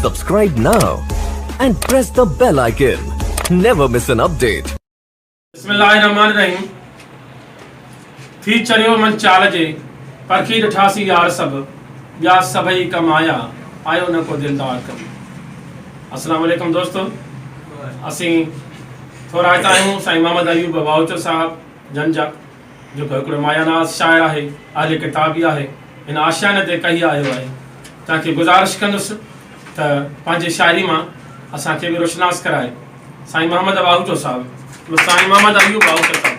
Subscribe now and press the bell icon. Never miss an update. بسم الله الرحمن الرحيم ٿي چريو من چال جي پرکي ڏٺاسي يار سڀ ٻيا سڀئي ڪم آيا آيو نه ڪو دلدار ڪم السلام عليڪم دوستو اسين ٿورائتا آهيون سائين محمد ايوب بواوچو صاحب جنجا، جيڪو هڪڙو مايا ناز شاعر آهي، اهل ڪتاب به آهي، هن آشياني تي ڪهي آيو آهي. تنهن کي گذارش ڪندس ته پنهنجي شاعري مان اسان کي به روشناس ڪرائي. سائين محمد واهوٽو صاحب به سائين محمد ايوب واهوٽو صاحب.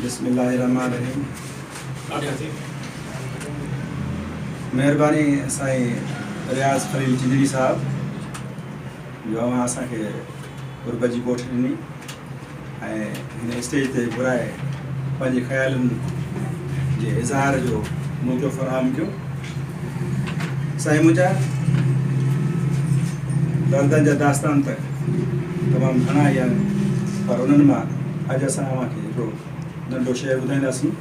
بسم الله الرحمن الرحيم مهرباني سائين رياض خليل چنجري صاحب جو اوهان اسان کي غربت جي ڪوٺ ڏني ۽ هن اسٽيج تي گهرائي پنهنجي خيالن جي اظهار جو موقعو فراهم ڪيو سائين منهنجا دردن جا داستان ته تمام گهڻا ئي آهن پر انهن مان اڄ اسان اوهان کي هڪڙو ننڍو شعر ٻڌائينداسين.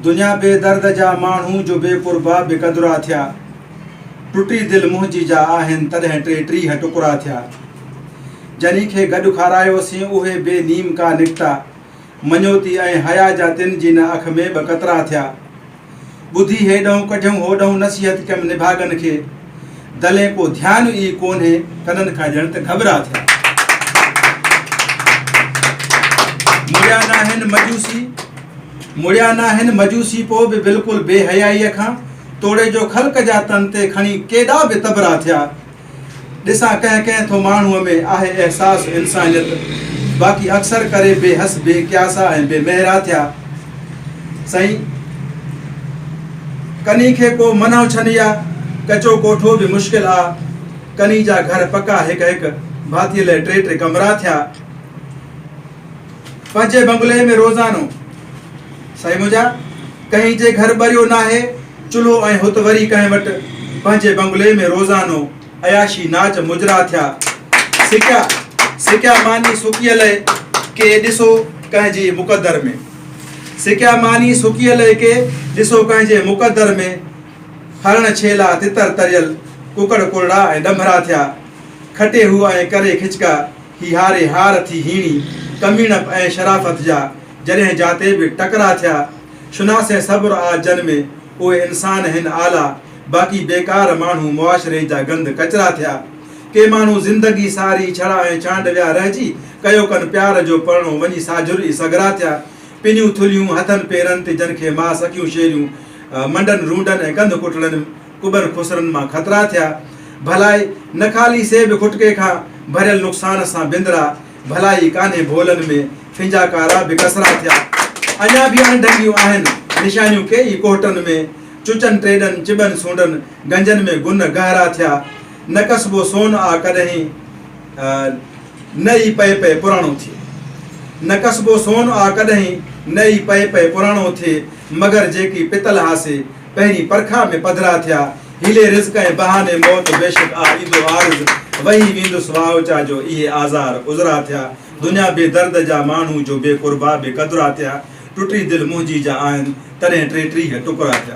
دنيا بي درد جا ماڻهو جو بي قربا بي قدرا ٿيا ٽٽي دل منهنجي جا آهن تڏهن ٽي ٽيهه ٽڪرا ٿيا جنهن کي گڏ کارايوسين اهي بي نيم ڪا نڪتا مڃوتي ۽ حيا جا تن جي نه اک ۾ ٻه قطرا ٿيا. ٻڌي هيڏهون ڪڍيون هوڏهون نصيحت ڪيم نڀاڳن کي. دلين ڪو ڌيان ئي ڪونهي ڪنن کان ڄڻ ته گهٻرا ٿيا. مڙيا ناهن مجوسي مڙيا ناهن مجوسي پوء به بلڪل بي حيائيء کان توڙي جو خلق جا تن تي کڻي ڪيڏا به تبرا ٿيا. ڏسان ڪنهن ڪنهن ٿو ماڻهوء ۾ آهي احساس انسانيت باقي اڪثر ڪري بي حس بي قياسا ۽ بي مهرا ٿيا سائين ڪني کي ڪو منهو ڇن يا ڪچو ڪوٺو به مشڪل آ ڪني جا گهر پڪا هڪ هڪ ڀاتي لئه ٽي ٽي ڪمرا ٿيا پنهنجي بنگلي ۾ روزانو سائين منهنجا ڪنهن جي گهر ٻريو ناهي چلهو ۽ هت وري ڪنهن وٽ پنهنجي بنگلي ۾ روزانو عياشي ناچ مجرا ٿيا سڪيا سڪيا ماني سڪيء لئه ڪي ڏسو ڪنهن جي مقدر ۾ سڪيا ماني سڪيء لئه ڪي ڏسو ڪنهن جي مقدر ۾ هرڻ ڇيلا تتر تريل ڪڪڙ ڪرڙا ۽ ڏنڀرا ٿيا کٽي هو ۽ ڪري کچڪا هي هاري هار ٿي هيڻي، ڪميڻپ ۽ شرافت جا جڏهن جاتي به ٽڪرا ٿيا، شناسين صبر آ جن ۾ اهي انسان هن اعليٰ، باقي بيڪار ماڻهو معاشري جا گند ڪچرا ٿيا. ڪي ماڻهو زندگي ساري ڇڙا ۽ ڇانڊ ويا رهجي، ڪيو ڪن پيار جو پرڻو وڃي ساجھر ئي سگھرا ٿيا. پنيون ٿلهيون هٿن پيرن تي جن کي ماء سڪيون شيريون منڊن رونڊن ۽ ڪنڌ ڪٽڙن ڪٻر خسرن مان خطرا ٿيا، ڀلائي نه خالي سي به کٽڪي کان ڀريل نقصان سان بندرا، ڀلائي ڪانهي ڀولن ۾ ڦنجا ڪارا به ڪسرا ٿيا، اڃا به اڻ ڍنگيون آهن نشانيون ڪي ئي ڪوهٽن ۾، چچن ٽيڏن چٻن سونڊن گنجن ۾ گنهه گهرا ٿيا، نه ڪسبو سون آ ڪڏهين نه ئي پئي پئي پراڻو ٿئي، نه ڪسبو سون آ ڪڏهين نه ئي پئي پئي پراڻو ٿئي، مگر جيڪي پتل هاسي پهرين پرکاء ۾ پڌرا ٿيا. حيلي رزق ۽ بهاني موت بيشڪ آ ايندو عارض، وهي ويندس واهوچا جو اهي آزار عذرا ٿيا. دنيا بي درد جا ماڻهو جو بي قربا بي قدرا ٿيا. ٽٽي دل منهنجي جا آهن، تڏهن ٽيٽيهه ٽڪرا ٿيا.